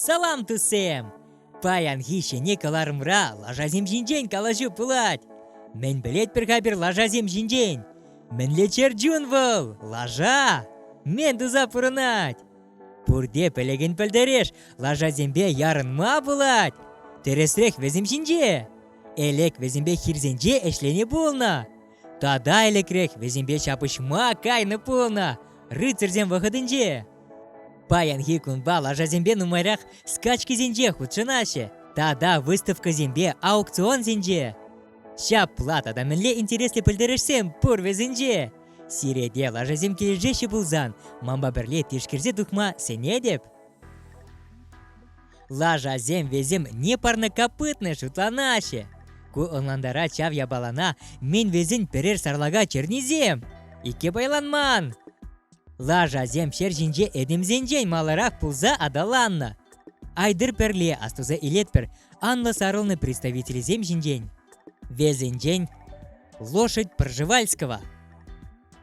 Салам, тусем! Паянхи ҫӗнӗ кӑларӑмра лашасем ҫинчен калаҫу пулать. Мӗн пӗлетпӗр-ха пир лашасем ҫинчен? Мӗнле чӗрчун вӑл? Лаша! Мӗн туса пурӑнать? Пурте пӗлӗкӗн пӗлтереш, лашасемпе ярӑнма пулать. Тӗрӗсрех вӗсем ҫинче. Элек вӗсемпе хирсенче ӗҫленӗ пулнӑ. Тата ӗлӗкрех вӗсемпе ҫапӑҫма кайнӑ пулнӑ рыцарьсем вӑхӑтӗнче. Паянхи кунпа лашасемпе нумайрах скачкисенче хутшӑнаҫҫӗ тата выставкӑсемпе аукционсенче. Ҫапла тата мӗнле интереслӗ пӗлтерӗшсем пур вӗсенче! Сирене лашасем килӗшеҫҫӗ пулсан, манпа пӗрле тишкерсе тухма сӗнетӗп. Лашасем вӗсем не парнокопытные шутланаҫҫӗ. Ку ӑнлантарать ҫав япалана мӗн вӗсен пӗрер сарлака чернисем. Икке пайланман. Лашасем ҫер ҫинче этемсенчен маларах пулса аталаннӑ. Айдыр пӗрле астуса илетпӗр анлӑ сарӑлнӑ представителӗсем ҫинчен. Весенчен лошадь Пржевальского.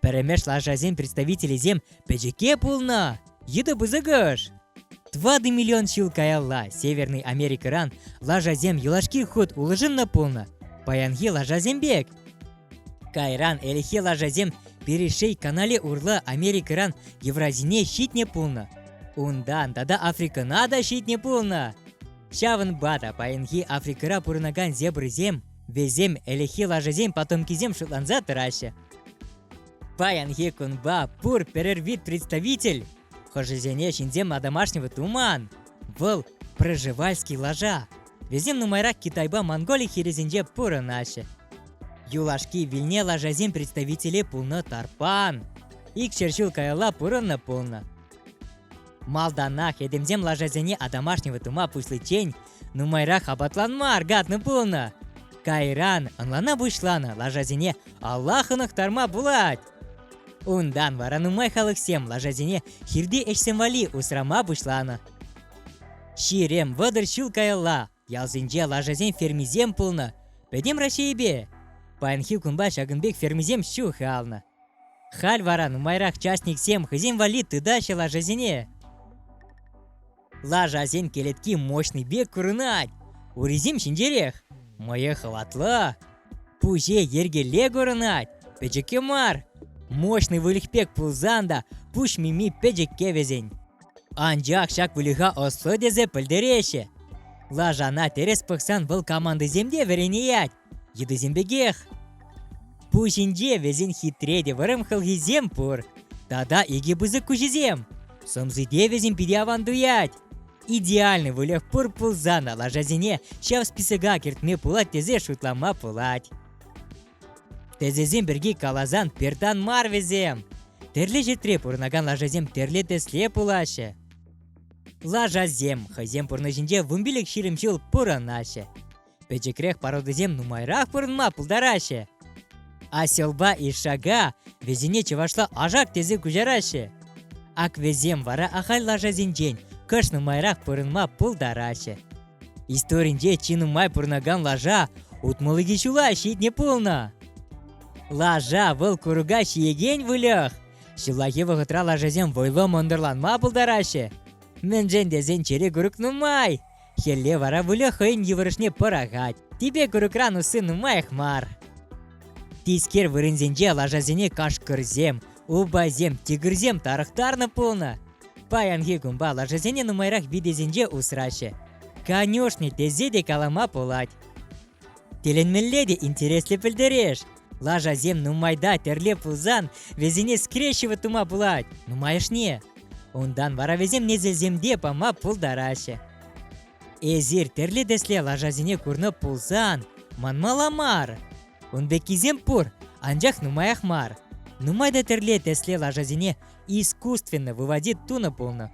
Пӗрремеш лашасен представителӗсем пӗчӗке пулнӑ. Йытӑ пысӑкӑш. Тӑватӑ миллион ҫул каялла Северный Америкӑран лашасем юлашки хут улшӑннӑ пулнӑ паянхи лашасем пек. Кайран ӗлӗкхи лашасем Перешей канале урлӑ Америкӑран Евразине ҫитнӗ пулнӑ. Унтан тата Африкӑна та ҫитнӗ пулнӑ. Ҫавӑнпа та паянхи Африкӑра пурӑнакан зебрӑсем, вӗсем ӗлӗкхи лашасен потомкисем шутланса тӑраҫҫӗ. Паянхи кунпа пур пӗрер вид представитель хӑшӗсене ҫынсем домашнего туман. Вӑл проживальский лажа. Вӗсем нумайрак Китайпа Монголи хирӗсенче пурӑнаҫҫӗ. Юлашки вилне лажасен представителе пулнӑ тарпан. Икҫӗр ҫул каялла пурӑннӑ пулнӑ. Малтанах этемсем лашасене одомашнивать тума пуҫличчен нумайрах апатланма аркатнӑ пулнӑ. Кайран ӑнлана пуҫланӑ лашасене Аллах ӑнӑхтарма пулать. Унтан вара нумай халӑхсем лашасене хирти ӗҫсем валли усрама пуҫланӑ. Ҫирем вӑтӑр ҫул каялла Ялсенче лашасен фермисем пулнӑ. Пӗтӗм Раҫҫейӗпе. Паянхи кунпа ҫакӑн пек фермисем ҫухалнӑ. Халь вара нумайрах частниксем хӑйсем валли тытаҫҫӗ лашасене. Лашасен кӗлетки мощный пек курӑнать. Урисем ҫинҫерех, мӑйӗ хӑватлӑ, Пуҫе йӗркелле курӑнать, пӗчӗккӗ мар. Мощный выльӑх пек пулсан та пуҫ мими пӗчӗкке вӗсен. Анчах ҫак выльӑха ӑслӑ тесе пӗлтереҫҫӗ. Лашана тӗрӗс пӑхсан вӑл командӑсем те вӗренеять, йытӑсем пекех. Пуҫӗнче вӗсен хитре те вӑрӑм хӑлхисем пур. Тата икӗ пысӑк куҫӗсем. Сӑмсипе вӗсем питӗ аван туять. идеальный выльӑх пур пулсан та лашасене ҫав списока кӗртме пулать тесе шутлама пулать. Тӗсесем пирки каласан пертан мар вӗсем. Тӗрлӗ ҫӗртре пурӑнакан лашасем тӗрлӗ тӗсле пулаҫҫӗ. Лашасем хӑйсем пурнӑҫӗнче вунпилӗк ҫирӗм ҫул пурӑнаҫҫӗ. Пӗчӗкрех пародисем нумайрах пурӑнма пултараҫҫӗ. Оселпа Ишака вӗсене чӑвашла ашак тесе куҫараҫҫӗ. Ак вӗсем вара ахаль лашасенчен кӑш нумайрах пурӑнма пултараҫҫӗ. Историнче чи нумай пурӑнакан лаша утмӑлӑкӗ ҫула ҫитнӗ пулнӑ. Лаша вӑл курӑка ҫиекен выльӑх. Ҫуллахи вӑхӑтра лашасем вӑйлӑ мӑнтӑрланма пултараҫҫӗ. Мӗншӗн тесен чӗре курӑк нумай. Хӗлле вара выльӑх хӑйӗн йывӑрӑшне пӑрахать. Типе курӑкран усси нумаях мар. Тискер вырӑнсенче лашасене кашкӑрсем, упасем, тигрсем тарӑхтарнӑ пулнӑ. Паянхи кунпа лашасене нумайрах витесенче усраҫҫӗ. Конюшни тесе те калама пулать. Тӗлӗнмелле те интереслӗ пӗлтереш. Лашасем нумайта тӗрле пулсан вӗсене скрещивать тума пулать нумайӑшне. Унтан вара вӗсем несӗлсемте пама пултараҫҫӗ. Эсир тӗрлӗ тӗсле лашасене курнӑ пулсан, манмала мар. Ун пеккисем пур, анчах нумаях мар. Нумай та тӗрле тӗсле лашасене искусственно выводить тунӑ пулнӑ.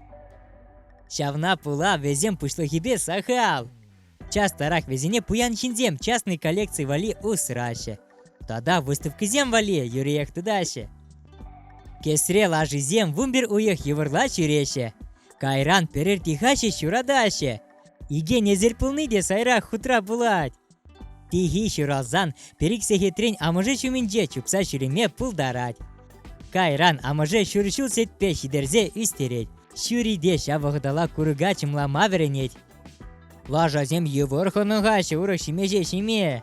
Ҫавна пула вӗсем пуҫлӑхӗпе сахал. Частарах вӗсене пуян ҫынсем частный коллекци валли усраҫҫӗ. Тата выставкӑсем валли юриех тытаҫҫӗ. Кесре лашисем вунпер уйӑх йывӑрла ҫӳреҫҫӗ. Кайран пӗрер тихаҫи ҫуратаҫҫӗ. Иге несер пулни те сайра хутра пулать. Тихи ҫуралсан пӗр-ик сехетрен амӑшӗ ҫумӗнче чупса ҫӳреме пултарать. Кайран амӑшӗ ҫур ҫул сетпе ҫитерсе ӳстерет. Ҫӳри те ҫав вӑхӑтала курӑка чӑмлама вӗренет. Лашасем йывӑр хӑнӑха ҫурӑк ҫимеҫе ҫиме.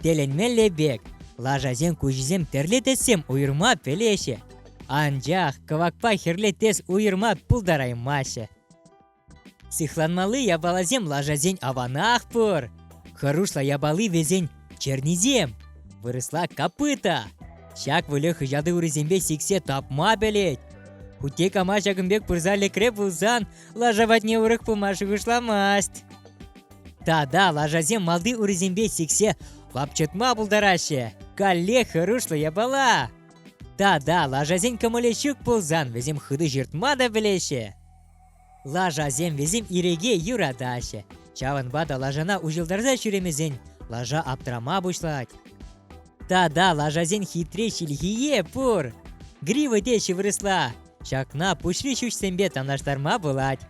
Тӗлӗнмелле пек, лашасен куҫӗсем тӗрлӗ тӗссем уйӑрма пӗлеҫҫӗ. Анчах кӑвакпа хӗрлӗ тӗс уйӑрма пултараймаҫҫӗ. Сыхланмалли япаласем лашасен аванах пур. Хӑрушла япали вӗсен чернисем, вырӑсла копыта. Ҫак выльӑх хӑҫатӑ урисемпе сиксе тапма пӗлет. Хутте кама ҫакӑн пек пырса лекре пулсан Лаша патне урӑх пыма шухӑшламасть. Тата лашасем малти урисемпе сиксе лапчӑтма пултараҫҫӗ. Каллех хӑрушлӑ япала. Тата лашасен кӑмӑлӗ ҫук пулсан вӗсем хытӑ ҫыртма та пӗлеҫҫӗ. Лашасем вӗсем иреке юратаҫҫӗ. Ҫавӑнпа та лашана уҫӑлтарса ҫӳремесен лаша аптрама пуҫлать. Тата лашасен хитре ҫилхийе пур. Грива те ҫывӑрӑсла. Ҫакна пуҫри ҫӳҫсемпе танлаштарма пулать.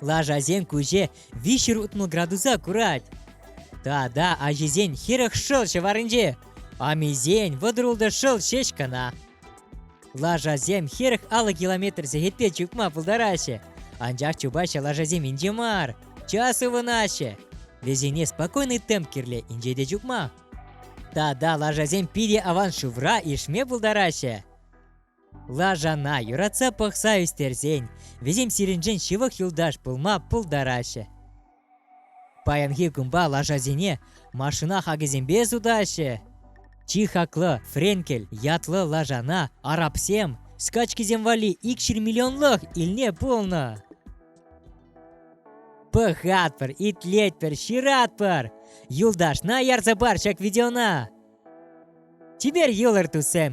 Лашасен куҫӗ виҫҫӗр утмӑл градуса курать. Тата ачисен хӗрӗх шӑл ҫӑварӗнче амисен вӑтӑрултӑ шӑл ҫеҫ кӑна. Лашасем хӗрӗх алӑ километр сехетпе чупма пултараҫҫӗ, анчах чупаҫҫӗ лашасем инҫе мар, час ывӑнаҫҫӗ. Вӗсене спокойный темп кирлӗ инҫе те чупма. Тата лашасем питӗ аван шывра ишме пултараҫҫӗ. Лашана юратса пӑхса ӳстерсен вӗсем сирӗншӗн ҫывӑх юлташ пулма пултараҫҫӗ. Паянхи кунпа лашасене машина хакӗсемпе сутаҫҫӗ. Чи хаклӑ Френкель ятлӑ лашана арабсем скачкисем валли икҫӗр миллионлӑх илне пулнӑ. Пӑхатпӑр, итлетпӗр, ҫыратпӑр. Юлташна ярса пар ҫак видеона. Чипер йӑлӑр, туссем!